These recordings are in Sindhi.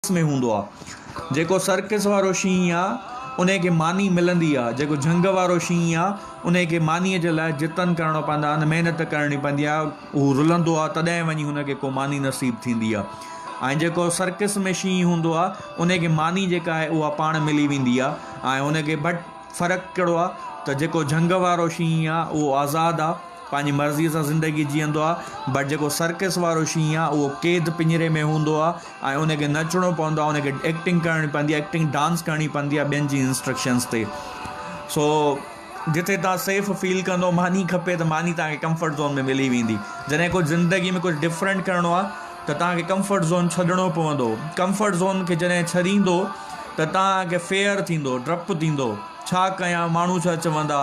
سرڪس ۾ هوندو آ جيڪو سرڪس وارو شينهن آ انهي کي ماني ملندي آ جيڪو جهنگ وارو شينهن آ انهي کي ماني جي لاء جتن ڪرڻو پوندا آهن محنت ڪرڻي پوندي آ هو رلندو آ تڏهن وڃي هن کي ڪو ماني نصيب ٿيندي آ ۽ جيڪو سرڪس ۾ شينهن هوندو آ انهي کي ماني جيڪا آهي اها پاڻ ملي ويندي آ ۽ هن کي بٽ فرق ڪهڙو آ ته جيڪو جهنگ وارو شينهن آ اهو آزاد آ پنهنجي مرضيء سان زندگي جيئندو آهي، بٽ جيڪو سرڪس وارو شينهن آهي اهو قيد پڃري ۾ هوندو آهي ۽ ان کي نچڻو پوندو آهي، ان کي ايڪٽنگ ڪرڻي پوندي آهي، ايڪٽنگ ڊانس ڪرڻي پوندي آهي ٻين جي انسٽرڪشنس تي. سو جتي توهان سيف فيل ڪندو ماني کپي ته ماني توهان کي ڪمفرٽ زون ۾ ملي ويندي، جڏهن ڪجهه زندگي ۾ ڪجهه ڊفرنٽ ڪرڻو آهي ته توهان کي ڪمفرٽ زون ڇڏڻو پوندو، ڪمفرٽ زون کي جڏهن ڇڏيندو ته توهان کي فيئر ٿيندو، ڊپ ٿيندو، ڇا ڪيان ماڻهو ڇا چوندا.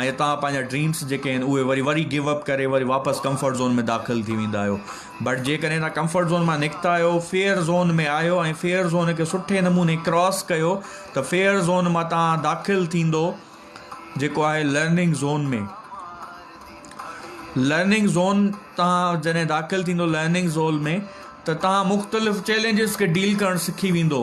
۽ اتان پنهنجا ڊريمس جيڪي آهن اهي وري وري گيو اپ ڪري وري واپس ڪمفرٽ زون ۾ داخل ٿي ويندا آهيو بٽ جيڪڏهن تان ڪمفرٽ زون مان نڪتا آهيو فيئر زون ۾ آهيو ۽ فيئر زون کي سٺي نموني ڪراس ڪيو ته فيئر زون مان تان داخل ٿيندو جيڪو آهي لرننگ زون ۾ لرننگ زون تان جڏهن داخل ٿيندو لرننگ زون ۾ ته تان مختلف چيلنجز کي ڊيل ڪرڻ سکي ويندو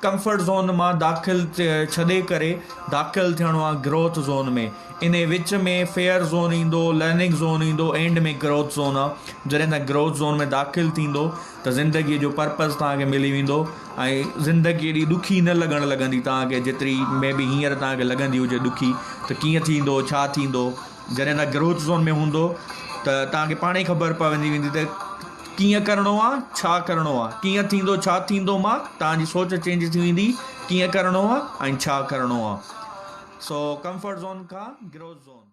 ڪمفرٽ زون مان داخل ڇڏي ڪري داخل ٿيڻو آ گروٿ زون ۾ انهي وچ ۾ فيئر زون ايندو لرننگ زون ايندو اينڊ ۾ گروٿ زون آ جڏهن تان گروٿ زون ۾ داخل ٿيندو ته زندگي جو پرپز توهان کي ملي ويندو ۽ زندگي ايڏي ڏکي نه لڳڻ لڳندي توهان کي جيتري مي بي هينئر توهان کي لڳندي هجي ڏکي ته ڪيئن ٿيندو ڇا ٿيندو جڏهن تان گروٿ زون ۾ هوندو ته توهان کي پاڻ ئي خبر پوندي ويندي ته ڪيئن ڪرڻو آ ڇا ڪرڻو آ ڪيئن ٿيندو ڇا ٿيندو مان توهان جي سوچ چينج ٿي ويندي ڪيئن ڪرڻو آ ۽ ڇا ڪرڻو آ سو ڪمفرٽ زون کان گروٿ زون